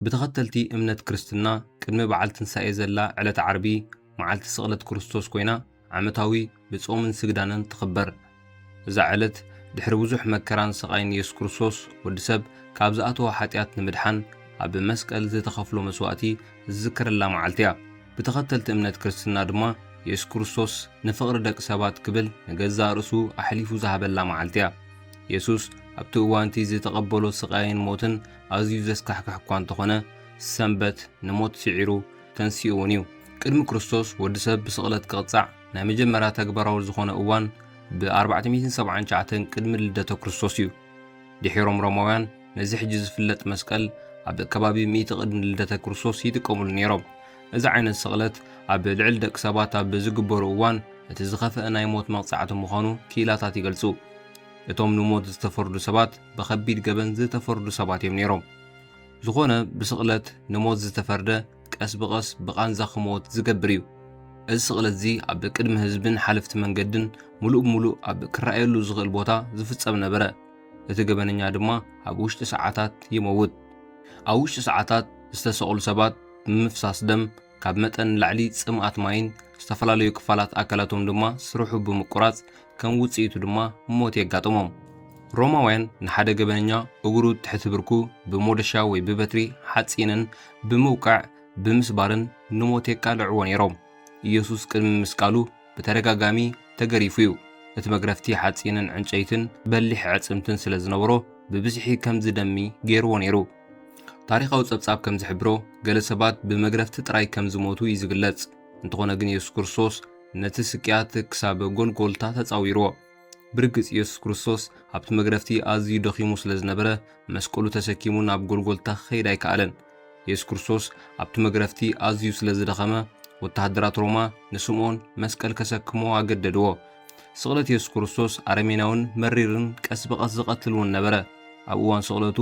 ብተኸተልቲ እምነት ክርስትና ቅድሚ በዓል ትንሳኤ ዘላ ዕለት ዓርቢ መዓልቲ ስቕለት ክርስቶስ ኮይና ዓመታዊ ብጾምን ስግዳንን ትኽበር። እዛ ዕለት ድሕሪ ብዙሕ መከራን ስቓይን የሱስ ክርስቶስ ወዲ ሰብ ካብ ዝኣተዎ ሓጢኣት ንምድሓን ኣብ መስቀል ዝተኸፍሎ መስዋእቲ ዝዝከረላ መዓልቲ እያ። ብተኸተልቲ እምነት ክርስትና ድማ የሱስ ክርስቶስ ንፍቕሪ ደቂ ሰባት ክብል ንገዛእ ርእሱ ኣሕሊፉ ዝሃበላ መዓልቲ እያ። የሱስ ኣብቲ እዋን'ቲ ዝተቐበሎ ስቓይን ሞትን ኣዝዩ ዘስካሕክሕ እኳ እንተኾነ ሰንበት ንሞት ስዒሩ ተንሲኡ እውን እዩ። ቅድሚ ክርስቶስ ወዲ ሰብ ብስቕለት ክቕጻዕ ናይ መጀመርያ ተግባራዊ ዝኾነ እዋን ብ ኣርባዕተ ሚእትን ሰብዓን ትሽዓተን ቅድሚ ልደተ ክርስቶስ እዩ። ድሒሮም ሮማውያን ነዚ ሕጂ ዝፍለጥ መስቀል ኣብ ከባቢ ሚእቲ ቅድሚ ልደተ ክርስቶስ ይጥቀምሉ ነይሮም። እዚ ዓይነት ስቕለት ኣብ ልዕሊ ደቂ ሰባት ኣብ ዝግበሩ እዋን እቲ ዝኸፍአ ናይ ሞት መቕጻዕቲ ምዃኑ ክኢላታት ይገልጹ። እቶም ንሞት ዝተፈርዱ ሰባት ብኸቢድ ገበን ዝተፈርዱ ሰባት እዮም ነይሮም። ዝኾነ ብስቕለት ንሞት ዝተፈርደ ቀስ ብቐስ ብቓንዛ ክሞት ዝገብር እዩ። እዚ ስቕለት እዚ ኣብ ቅድሚ ህዝብን ሓለፍቲ መንገድን ምሉእ ብምሉእ ኣብ ክረኣየሉ ዝኽእል ቦታ ዝፍጸም ነበረ። እቲ ገበነኛ ድማ ኣብ ውሽጢ ሰዓታት ይመውት። ኣብ ውሽጢ ሰዓታት ዝተሰቕሉ ሰባት ብምፍሳስ ደም ካብ መጠን ንላዕሊ ጽምኣት ማይን ዝተፈላለዩ ክፋላት ኣካላቶም ድማ ስርሑ ብምቁራጽ ከም ውጽኢቱ ድማ ሞት የጋጥሞም። ሮማውያን ንሓደ ገበነኛ እግሩ ትሕቲ ብርኩ ብሞደሻ ወይ ብበትሪ ሓጺንን ብምውቃዕ ብምስባርን ንሞት የቃልዕዎ ነይሮም። ኢየሱስ ቅድሚ ምስቃሉ ብተደጋጋሚ ተገሪፉ እዩ። እቲ መግረፍቲ ሓጺንን ዕንጨይትን በሊሕ ኣዕጽምትን ስለ ዝነበሮ ብብዝሒ ከም ዝደሚ ገይርዎ ነይሩ። ታሪኻዊ ጸብጻብ ከም ዝሕብሮ ገለ ሰባት ብመግረፍቲ ጥራይ ከም ዝሞቱ እዩ ዝግለጽ። እንተኾነ ግን የሱስ ክርስቶስ ነቲ ስቅያት ክሳብ ጎልጎልታ ተጻዊርዎ። ብርግጽ የሱስ ክርስቶስ ኣብቲ መግረፍቲ ኣዝዩ ደኺሙ ስለ ዝነበረ መስቀሉ ተሰኪሙ ናብ ጎልጎልታ ክኸይድ ኣይከኣለን። የሱስ ክርስቶስ ኣብቲ መግረፍቲ ኣዝዩ ስለ ዝደኸመ ወተሃደራት ሮማ ንስምኦን መስቀል ከሰክምዎ ኣገደድዎ። ስቕለት የሱስ ክርስቶስ ኣረሜናውን መሪርን ቀስ ብቐስ ዝቐትል እውን ነበረ። ኣብ እዋን ስቕለቱ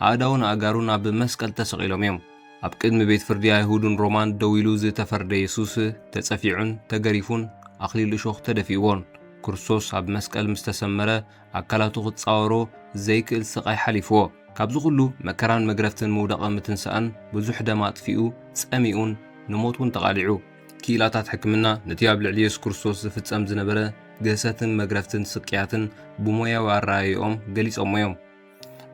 ኣእዳውን ኣእጋሩን ኣብ መስቀል ተሰቒሎም እዮም። ኣብ ቅድሚ ቤት ፍርዲ ኣይሁድን ሮማን ደው ኢሉ ዝተፈርደ የሱስ ተጸፊዑን ተገሪፉን ኣኽሊል እሾኽ ተደፊእዎን ክርስቶስ ኣብ መስቀል ምስ ተሰመረ ኣካላቱ ክጻወሮ ዘይክእል ስቓይ ሓሊፍዎ። ካብዚ ኩሉ መከራን መግረፍትን ምውዳቐ ምትንሳእን ብዙሕ ደም ኣጥፊኡ ጸሚኡን ንሞት እውን ተቓሊዑ። ክኢላታት ሕክምና ነቲ ኣብ ልዕሊ የሱስ ክርስቶስ ዝፍጸም ዝነበረ ግህሰትን መግረፍትን ስቅያትን ብሞያዊ ኣረኣእያኦም ገሊጾሞ እዮም።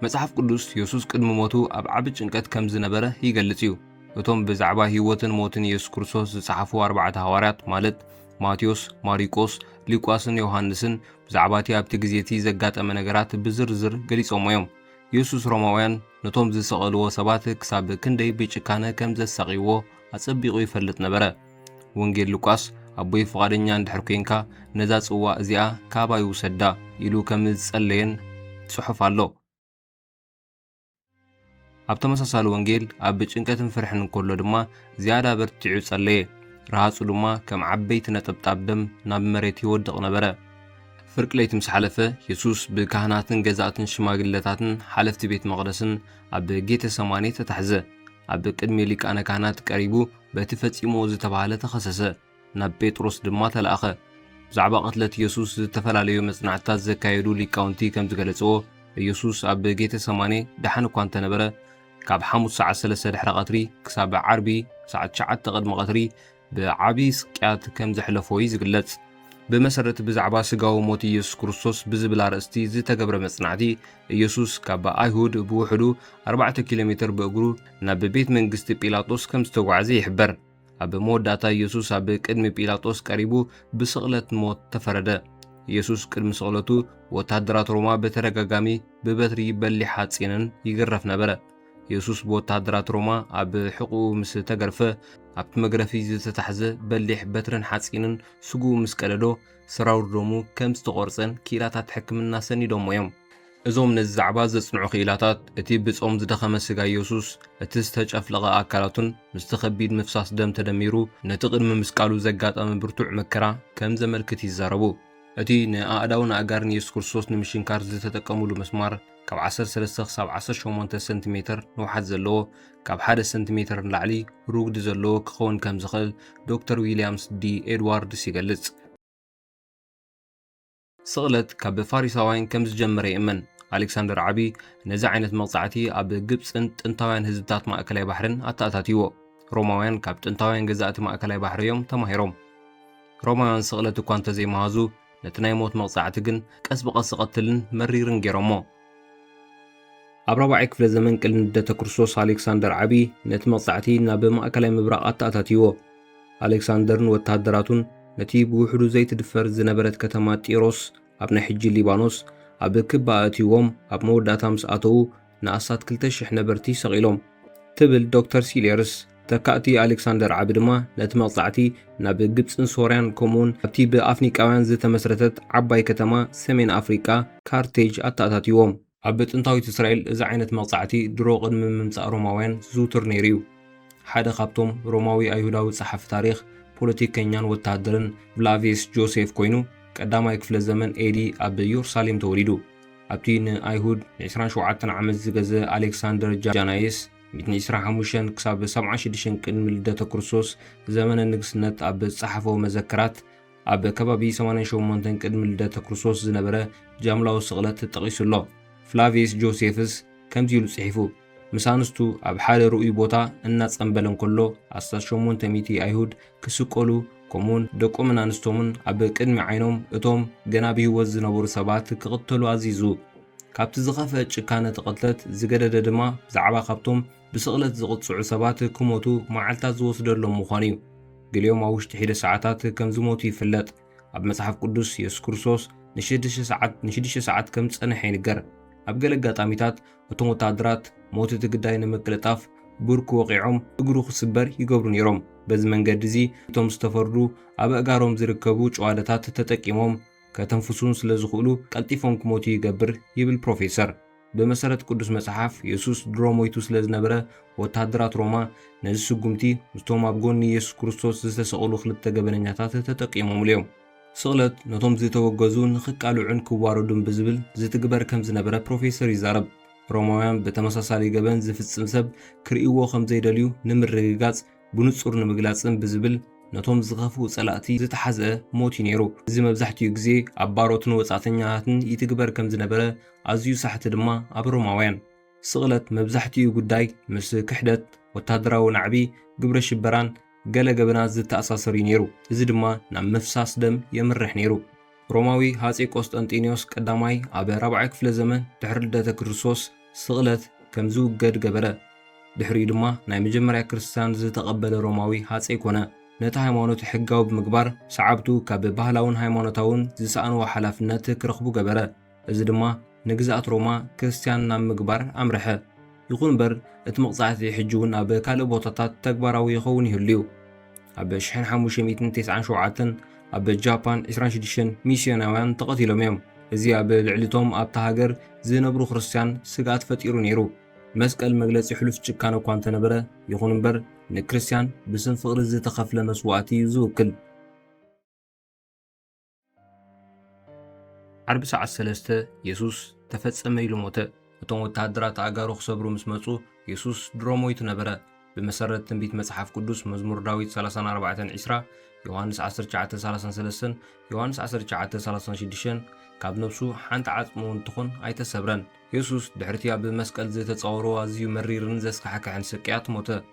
መጽሓፍ ቅዱስ የሱስ ቅድሚ ሞቱ ኣብ ዓቢ ጭንቀት ከም ዝነበረ ይገልጽ እዩ። እቶም ብዛዕባ ህይወትን ሞትን የሱስ ክርስቶስ ዝጸሓፉ ኣርባዕተ ሃዋርያት ማለት ማቴዎስ፣ ማሪቆስ፣ ሊቋስን ዮሃንስን ብዛዕባ እቲ ኣብቲ ግዜ እቲ ዘጋጠመ ነገራት ብዝርዝር ገሊጾሞ እዮም። የሱስ ሮማውያን ነቶም ዝሰቐልዎ ሰባት ክሳብ ክንደይ ብጭካነ ከም ዘሳቕይዎ ኣጸቢቑ ይፈልጥ ነበረ። ወንጌል ሉቃስ፣ ኣቦይ ፍቓደኛ እንድሕር ኴንካ፣ ነዛ ጽዋእ እዚኣ ካባይ ውሰዳ ኢሉ ከም ዝጸለየን ጽሑፍ ኣሎ። ኣብ ተመሳሳሊ ወንጌል፣ ኣብ ጭንቀትን ፍርሕን እንከሎ ድማ ዝያዳ በርቲዑ ጸለየ፣ ረሃጹ ድማ ከም ዓበይቲ ነጠብጣብ ደም ናብ መሬት ይወድቕ ነበረ። ፍርቂ ለይቲ ምስ ሓለፈ፣ የሱስ ብካህናትን ገዛእትን ሽማግለታትን ሓለፍቲ ቤት መቕደስን ኣብ ጌተሰማኔ ተታሕዘ። ኣብ ቅድሚ ሊቃነ ካህናት ቀሪቡ በቲ ፈጺምዎ ዝተባህለ ተኸሰሰ፣ ናብ ጴጥሮስ ድማ ተላእከ። ብዛዕባ ቅትለት ኢየሱስ ዝተፈላለዩ መጽናዕትታት ዘካየዱ ሊቃውንቲ ከም ዝገለጽዎ፣ ኢየሱስ ኣብ ጌተ ሰማኔ ደሓን እኳ እንተ ነበረ፣ ካብ ሓሙስ ሰዓት ሰለስተ ድሕረ ቐትሪ ክሳብ ዓርቢ ሰዓት ትሽዓተ ቕድሚ ቐትሪ፣ ብዓቢ ስቅያት ከም ዘሕለፎ እዩ ዝግለጽ። ብመሰረት ብዛዕባ ስጋዊ ሞት ኢየሱስ ክርስቶስ ብዝብል ኣርእስቲ ዝተገብረ መጽናዕቲ፣ ኢየሱስ ካብ ኣይሁድ ብውሕዱ ኣርባዕተ ኪሎ ሜተር ብእግሩ ናብ ቤት መንግስቲ ጲላጦስ ከም ዝተጓዕዘ ይሕበር። ኣብ መወዳእታ ኢየሱስ ኣብ ቅድሚ ጲላጦስ ቀሪቡ ብስቕለት ሞት ተፈረደ። ኢየሱስ ቅድሚ ስቕለቱ ወተሃደራት ሮማ በተደጋጋሚ ብበትሪ በሊሕ ሓጺንን ይግረፍ ነበረ። የሱስ ብወተሃደራት ሮማ ኣብ ሕቝኡ ምስ ተገርፈ፣ ኣብቲ መግረፊ ዝተታሕዘ በሊሕ በትርን ሓጺንን ስግኡ ምስ ቀደዶ፣ ሰራውር ደሙ ከም ዝተቖርጸን ክኢላታት ሕክምና ሰኒዶሞ እዮም። እዞም ነዚ ዛዕባ ዘጽንዑ ክኢላታት፣ እቲ ብጾም ዝደኸመ ስጋ የሱስ፣ እቲ ዝተጨፍለቐ ኣካላቱን ምስቲ ከቢድ ምፍሳስ ደም ተደሚሩ ነቲ ቅድሚ ምስቃሉ ዘጋጠመ ብርቱዕ መከራ ከም ዘመልክት ይዛረቡ። እቲ ንኣእዳውን ኣእጋርን የሱስ ክርስቶስ ንምሽንካር ዝተጠቀምሉ ምስማር፣ ካብ ዓሰርተ ሰለስተ ክሳብ ዓሰርተ ሸሞንተ ሰንቲ ሜተር ንውሓት ዘለዎ፣ ካብ ሓደ ሰንቲ ሜተር ንላዕሊ ርጉዲ ዘለዎ ክኸውን ከም ዝኽእል ዶክተር ዊልያምስ ዲ ኤድዋርድስ ይገልጽ። ስቕለት ካብ ፋሪሳውያን ከም ዝጀመረ ይእመን። ኣሌክሳንደር ዓቢ ነዚ ዓይነት መቕጻዕቲ ኣብ ግብጽን ጥንታውያን ህዝብታት ማእከላይ ባሕርን ኣተኣታትይዎ። ሮማውያን ካብ ጥንታውያን ገዛእቲ ማእከላይ ባሕሪ እዮም ተማሂሮም። ሮማውያን ስቕለት እኳ እንተ ዘይመሃዙ፣ ነቲ ናይ ሞት መቕጻዕቲ ግን ቀስ ብቐስ ዝቐትልን መሪርን ገይሮሞ። ኣብ ራብዓይ ክፍለ ዘመን ቅድሚ ልደተ ክርስቶስ ኣሌክሳንደር ዓቢ ነቲ መቕጻዕቲ ናብ ማእከላይ ምብራቕ ኣተኣታትይዎ። ኣሌክሳንደርን ወተሃደራቱን ነቲ ብውሕዱ ዘይትድፈር ዝነበረት ከተማ ጢሮስ፣ ኣብ ናይ ሕጂ ሊባኖስ፣ ኣብ ክባ ኣእትይዎም ኣብ መወዳእታ ምስ ኣተዉ፣ ንኣስታት ክልተ ሽሕ ነበርቲ ሰቒሎም ትብል ዶክተር ሲሌርስ። ተካእቲ ኣሌክሳንደር ዓቢ ድማ ነቲ መቕጻዕቲ ናብ ግብጽን ሶርያን ከምኡውን ኣብቲ ብኣፍኒቃውያን ዝተመስረተት ዓባይ ከተማ ሰሜን ኣፍሪቃ ካርቴጅ ኣተኣታትይዎም። ኣብ ጥንታዊት እስራኤል እዚ ዓይነት መቕጻዕቲ ድሮ ቅድሚ ምምጻእ ሮማውያን ዝዝውትር ነይሩ እዩ። ሓደ ካብቶም ሮማዊ ኣይሁዳዊ ጸሓፊ ታሪኽ፣ ፖለቲከኛን ወተሃደርን ፍላቪየስ ጆሴፍ ኰይኑ ቀዳማይ ክፍለ ዘመን ኤዲ ኣብ የሩሳሌም ተወሊዱ። ኣብቲ ንኣይሁድ ንዕስራን ሸውዓተን ዓመት ዝገዘ ኣሌክሳንደር ጃናይስ፣ ሚእትን ዕስራን ሓሙሽተን ክሳብ ሰብዓን ሽዱሽተን ቅድሚ ልደተ ክርስቶስ ዘመነ ንግስነት ኣብ ዝጸሓፎ መዘክራት፣ ኣብ ከባቢ ሰማንያን ሸሞንተን ቅድሚ ልደተ ክርስቶስ ዝነበረ ጃምላዊ ስቕለት ጠቒሱ ኣሎ። ፍላቪየስ ጆሴፍስ ከምዚ ኢሉ ጽሒፉ። ምስ ኣንስቱ ኣብ ሓደ ርኡይ ቦታ እናጸምበለ እንከሎ፣ ኣስታት ሸሞንተ ሚእቲ ኣይሁድ ክስቀሉ፣ ከምኡውን ደቆምን ኣንስቶምን ኣብ ቅድሚ ዓይኖም እቶም ገና ብህይወት ዝነበሩ ሰባት ክቕተሉ ኣዚዙ። ካብቲ ዝኸፍአ ጭካነ እቲ ቅትለት ዝገደደ ድማ ብዛዕባ ካብቶም ብስቕለት ዝቕጽዑ ሰባት ክሞቱ መዓልታት ዝወስደሎም ምዃኑ እዩ። ገሊኦም ኣብ ውሽጢ ሒደት ሰዓታት ከም ዝሞቱ ይፍለጥ። ኣብ መጽሓፍ ቅዱስ፣ የሱስ ክርስቶስ ንሽዱሽተ ሰዓት ንሽዱሽተ ሰዓት ከም ዝጸንሐ ይንገር። ኣብ ገለ ኣጋጣሚታት እቶም ወተሃደራት ሞት እቲ ግዳይ ንምቅልጣፍ ብርኩ ወቒዖም እግሩ ክስበር ይገብሩ ነይሮም። በዚ መንገዲ እዚ እቶም ዝተፈርዱ ኣብ ኣእጋሮም ዝርከቡ ጭዋዳታት ተጠቂሞም ከተንፍሱን ስለ ዝኽእሉ ቀልጢፎም ክሞቱ ይገብር ይብል ፕሮፌሰር። ብመሰረት ቅዱስ መጽሓፍ፣ የሱስ ድሮ ሞይቱ ስለ ዝነበረ፣ ወተሃደራት ሮማ ነዚ ስጕምቲ ምስቶም ኣብ ጐኒ የሱስ ክርስቶስ ዝተሰቕሉ ክልተ ገበነኛታት ተጠቂሞምሉ እዮም። ስቕለት ነቶም ዝተወገዙ ንኽቃልዑን ክዋረዱን ብዝብል ዝትግበር ከም ዝነበረ ፕሮፌሰር ይዛረብ። ሮማውያን ብተመሳሳሊ ገበን ዝፍጽም ሰብ ክርእይዎ ከም ዘይደልዩ ንምርግጋጽ ብንጹር ንምግላጽን ብዝብል ነቶም ዝኸፍኡ ጸላእቲ ዝተሓዝአ ሞት እዩ ነይሩ። እዚ መብዛሕትኡ ግዜ ኣብ ባሮትን ወጻእተኛታትን ይትግበር ከም ዝነበረ፣ ኣዝዩ ሳሕቲ ድማ ኣብ ሮማውያን። ስቕለት መብዛሕትኡ ጉዳይ ምስ ክሕደት፣ ወተሃደራዊ ናዕቢ፣ ግብረ ሽበራን ገለ ገበናት ዝተኣሳሰር እዩ ነይሩ፣ እዚ ድማ ናብ ምፍሳስ ደም የምርሕ ነይሩ። ሮማዊ ሃጼ ቆስጠንጢንዮስ ቀዳማይ ኣብ ራብዓይ ክፍለ ዘመን ድሕሪ ልደተ ክርስቶስ ስቕለት ከም ዝውገድ ገበረ። ድሕሪኡ ድማ ናይ መጀመርያ ክርስትያን ዝተቐበለ ሮማዊ ሃጸይ ኮነ። ነቲ ሃይማኖት ሕጋዊ ብምግባር ሰዓብቱ ካብ ባህላውን ሃይማኖታውን ዝሰኣንዎ ሓላፍነት ክረኽቡ ገበረ። እዚ ድማ ንግዝኣት ሮማ ክርስትያን ናብ ምግባር ኣምርሐ። ይኹን እምበር፣ እቲ መቕጻዕቲ ሕጂ እውን ኣብ ካልእ ቦታታት ተግባራዊ ይኸውን ይህሉ እዩ። ኣብ ሽሕን ሓሙሽተ ሚእትን ተስዓን ሸውዓተን ኣብ ጃፓን ዕስራን ሽዱሽተን ሚስዮናውያን ተቐቲሎም እዮም። እዚ ኣብ ልዕሊ እቶም ኣብታ ሃገር ዝነብሩ ክርስትያን ስግኣት ፈጢሩ ነይሩ። መስቀል መግለጺ ሕሉፍ ጭካነ እኳ እንተ ነበረ፣ ይኹን እምበር፣ ንክርስትያን ብስም ፍቕሪ ዝተኸፍለ መስዋእቲ እዩ ዝውክል። ዓርቢ ሰዓት ሰለስተ የሱስ ተፈጸመ ኢሉ ሞተ። እቶም ወተሃደራት ኣእጋሩ ክሰብሩ ምስ መጹ የሱስ ድሮ ሞይቱ ነበረ። ብመሰረት ትንቢት መጽሓፍ ቅዱስ መዝሙር ዳዊት 34 20 ዮሃንስ 19:33 ዮሃንስ 19:36 ካብ ነብሱ ሓንቲ ዓጽሚ እውን ትኹን ኣይተሰብረን። የሱስ ድሕርቲ ኣብ መስቀል ዝተጻወሮ ኣዝዩ መሪርን ዘስካሕክሕን ስቅያት ሞተ።